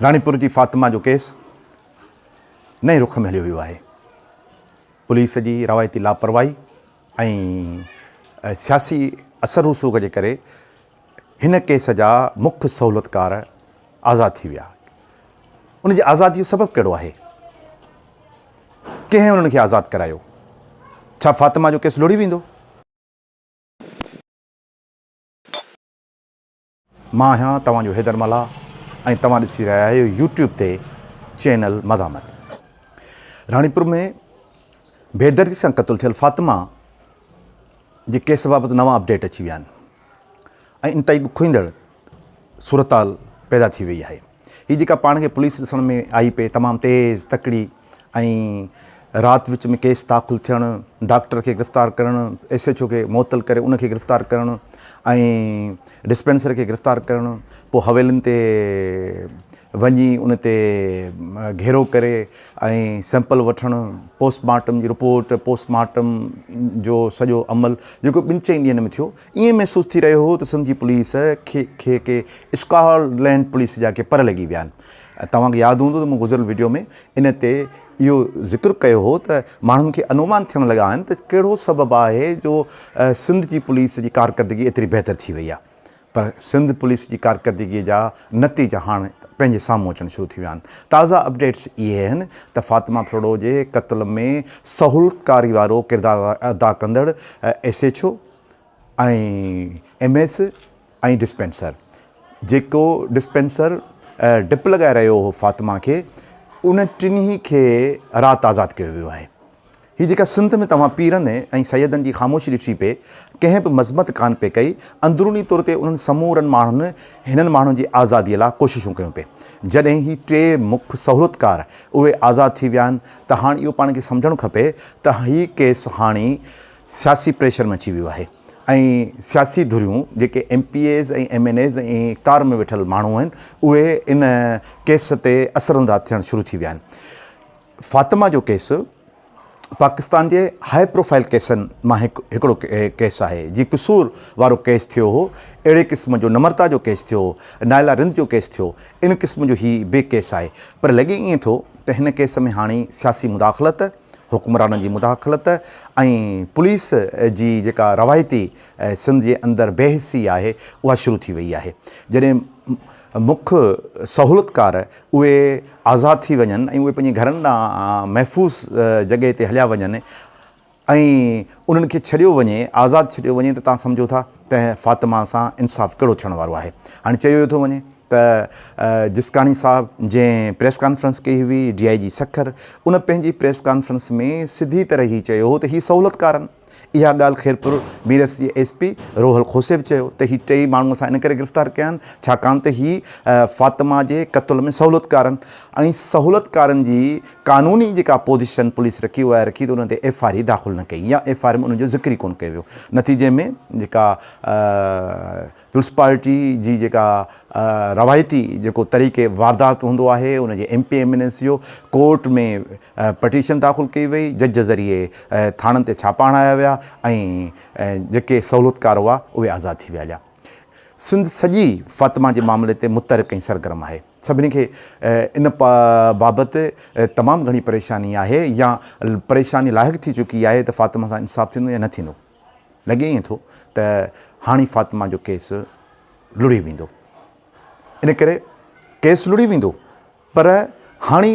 راڻيپور جي فاطمه جو ڪيس نئين رخ ۾ هليو ويو آهي، پوليس جي روايتي لاپرواهي ۽ سياسي اثر رسوخ جي ڪري هن ڪيس جا مک سهولتڪار آزاد ٿي ويا، ان جي آزادي جو سبب ڪهڙو آهي؟ ڪنهن انهن کي آزاد ڪرايو؟ ڇا فاطمه جو ڪيس لڙهي ويندو؟ مان آهيان توهان جو حيدر ملاح ۽ توهان ڏسي رهيا آهيو يوٽيوب تي چينل مزاحمت. راڻيپور ۾ بيدردي سان قتل ٿيل فاطمه جي ڪيس بابت نوان اپڊيٽ اچي ويا آهن ۽ انتهائي ڏکوئيندڙ صورتحال پيدا ٿي وئي آهي. هي جيڪا پاڻ کي پوليس ڏسڻ ۾ آئي پئي تمام تيز، تڪڙي ۽ رات وچ ۾ ڪيس داخل ٿيڻ، ڊاڪٽر کي گرفتار ڪرڻ، ايس ايڇ او کي معطل ڪري ان کي گرفتار ڪرڻ ۽ ڊسپينسر کي گرفتار ڪرڻ پوء حويلن تي وڃي ان تي گهيرو ڪري ۽ سيمپل وٺڻ پوسٽ مارٽم جي رپورٽ پوسٽ مارٽم جو سڄو عمل جيڪو ٻن چئن ڏينهن ۾ ٿيو ائين محسوس ٿي رهيو هو ته سنڌي پوليس کي ڪي اسڪاٽ لينڊ پوليس جا ڪي پر لڳي ويا آهن. توهان کي ياد هوندو ته مون گذريل وڊيو ۾ ان تي اهو ذڪر ڪيو هو ته ماڻهن کي انومان ٿيڻ لڳا آهن ته ڪهڙو سبب آهي جو سنڌ جي پوليس جي ڪارڪردگي ايتري بهتر ٿي وئي آهي پر سنڌ پوليس جي ڪارڪردگي جا نتيجا هاڻ پنهنجي سامهون اچڻ شروع ٿي ويا آهن. تازا اپڊيٽس اهي آهن ته فاطمه ڦرڙو جي قتل ۾ سهولتڪاري وارو ڪردار ادا ڪندڙ S H O, ۽ M S ۽ dispenser جيڪو ڊسپينسر ڊپ لڳائي رهيو هو فاطمه کي ان ٽنهي کي رات آزاد ڪيو ويو آهي هي جيڪا سنڌ ۾ توهان پيرن ۽ سيدن جي خاموشي ڏٺي پئي ڪنهن به مذمت ڪانه پئي ڪئي اندروني طور تي انهن سمورن ماڻهن هنن ماڻهن جي آزادي لاء ڪوششون ڪيون پئي جڏهن هي ٽي مک سهولتڪار اهي آزاد ٿي ويا آهن ته هاڻ اهو پاڻ کي سمجهڻ کپي ته هي ڪيس هاڻي سياسي پريشر مچي ويو آهي ۽ سياسي ڌريون جيڪي M P As ۽ M N As ۽ اقتدار ۾ ويٺل ماڻهو آهن اهي ان ڪيس تي اثرانداز ٿيڻ شروع ٿي ويا آهن فاطمه جو ڪيس پاڪستان جي هاء پروفائل ڪيسن مان هڪ هڪڙو ڪيس آهي جي قصور وارو ڪيس ٿيو هو اهڙي قسم جو نمرتا جو ڪيس ٿيو نائلا رند جو ڪيس ٿيو ان قسم جو هي بي ڪيس آهي پر لڳي ائين ٿو ته هن ڪيس ۾ هاڻي سياسي مداخلت حڪمرانن جي مداخلت ۽ پوليس جي جيڪا روايتي سنڌ جي اندر بي حسي آهي اها شروع ٿي وئي آهي جڏهن مک سهولتڪار اهي آزاد ٿي وڃن ۽ اهي پنهنجي گهرن ڏانهن محفوظ جڳهه تي هليا وڃن ۽ انهن کي ڇڏيو وڃي آزاد ڇڏيو وڃي ته تان سمجهو ٿا ته فاطمه سان انصاف ڪهڙو ٿيڻ وارو آهي هاڻي چيو ٿو وڃي ته جسڪاڻي صاحب جنهن پريس ڪانفرنس ڪئي هئي ڊي آء جي سکر ان پنهنجي پريس ڪانفرنس ۾ سڌي طرح هي چيو هو ته هي سهولتڪارن اها ڳالهه خيرپور ميرس جي ايس پي روحل کوسي به چيو ته هي ٽئي ماڻهو اسان ان ڪري گرفتار ڪيا آهن ڇاڪاڻ ته هي فاطمه جي قتل ۾ سهولتڪارن ۽ سهولتڪارن جي قانوني جيڪا پوزيشن پوليس رکي اها رکي ته ان تي ايف آر اي داخل نه ڪئي يا ايف آر اي ۾ ان جو ذڪر ئي ڪونه ڪيو ويو نتيجي ۾ جيڪا پيپلز پارٽي جي جيڪا روايتي جيڪو طريقي واردات هوندو آهي ان جي M P M N S جو ڪورٽ ۾ پٽيشن داخل ڪئي وئي جج ذريعي ٿاڻن تي ڇاپا هڻايا ويا ۽ جيڪي سهولتڪار هئا اهي آزاد ٿي ويا هليا سنڌ سڄي فاطمه جي معاملي تي متحرڪ ۽ سرگرم آهي سڀني کي ان بابت تمام گهڻي پريشاني آهي يا پريشاني لاحق ٿي چڪي آهي ته فاطمه سان انصاف ٿيندو يا نه ٿيندو لڳي ائين ٿو ته هاڻي فاطمه جو ڪيس لڙهي ويندو ان ڪري ڪيس لڙهي ويندو پر هاڻي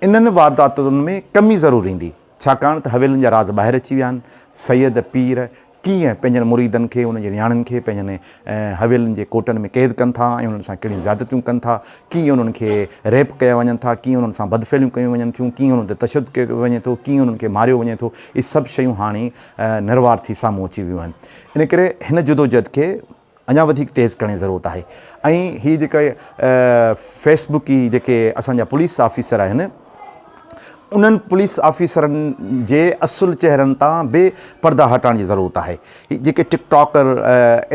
انهن وارداتن ۾ ڪمي ضرور ايندي ڇاڪاڻ ته حويلن جا راز ٻاهر اچي ويا آهن سيد پير ڪيئن پنهنجن مريدن کي انهن جي نياڻين کي پنهنجن حويلن جي ڪوٽن ۾ قيد ڪن ٿا ۽ انهن سان ڪهڙيون زيادتيون ڪن ٿا ڪيئن انهن کي ريپ ڪيا وڃن ٿا ڪيئن انهن سان بدفعليون ڪيون وڃن ٿيون ڪيئن انهن تي تشدد ڪيو وڃي ٿو ڪيئن انهن کي ماريو وڃي ٿو اهي سڀ شيون هاڻي نروار ٿي سامهون اچي ويون آهن ان ڪري هن جدوجهد کي اڃا وڌيڪ تيز ڪرڻ جي ضرورت آهي ۽ هي جيڪا فيس بڪ جي جيڪي اسان جا پوليس آفيسر آهن انهن پوليس آفيسرن جي اصل چهرن تان به پردا هٽائڻ جي ضرورت آهي جيڪي ٽڪ ٽاڪر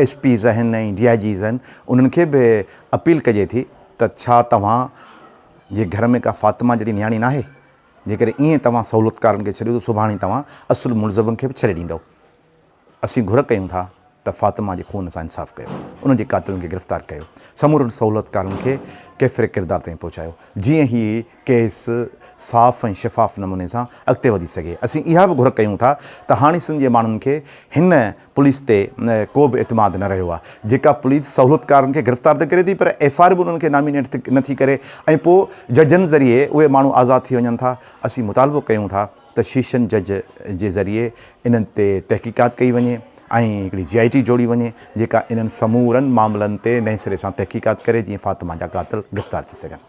ايس پيز آهن ۽ ڊي آء جيز آهن انهن کي به اپيل ڪجي ٿي ته ڇا توهان جي گهر ۾ ڪا فاطمه جهڙي نياڻي ناهي جيڪڏهن ائين توهان سهولتڪارن کي ڇڏيو ته سڀاڻي توهان اصل ملزمن کي به ڇڏي ڏيندؤ. اسين گهر ڪيون ٿا ته فاطمه جي خون سان انصاف ڪيو. ان جي قاتلن کي گرفتار ڪيو. سمورن سهولتڪارن کي ڪيفر ڪردار تائين پهچايو. جيئن هي ڪيس صاف ۽ شفاف نموني سان اڳتي وڌي سگهي. اسين اها به گهر ڪيون ٿا ته هاڻي سنڌ جي ماڻهن کي هن پوليس تي ڪو به اعتماد نه رهيو آهي، جيڪا پوليس سهولتڪارن کي گرفتار ته ڪري ٿي پر ايف آء آر به انهن کي نامينيٽ نه ٿي ڪري ۽ پوء ججن ذريعي اهي ماڻهو آزاد ٿي وڃن ٿا، اسين مطالبو ڪيون ٿا ته شيشن جج جي ذريعي انهن تي تحقيقات ڪئي وڃي ۽ هڪڙي جي آء ٽي جوڙي وڃي جيڪا انهن سمورن معاملن تي نئين سري سان تحقيقات ڪري جيئن فاطمه جا قاتل گرفتار ٿي سگهن.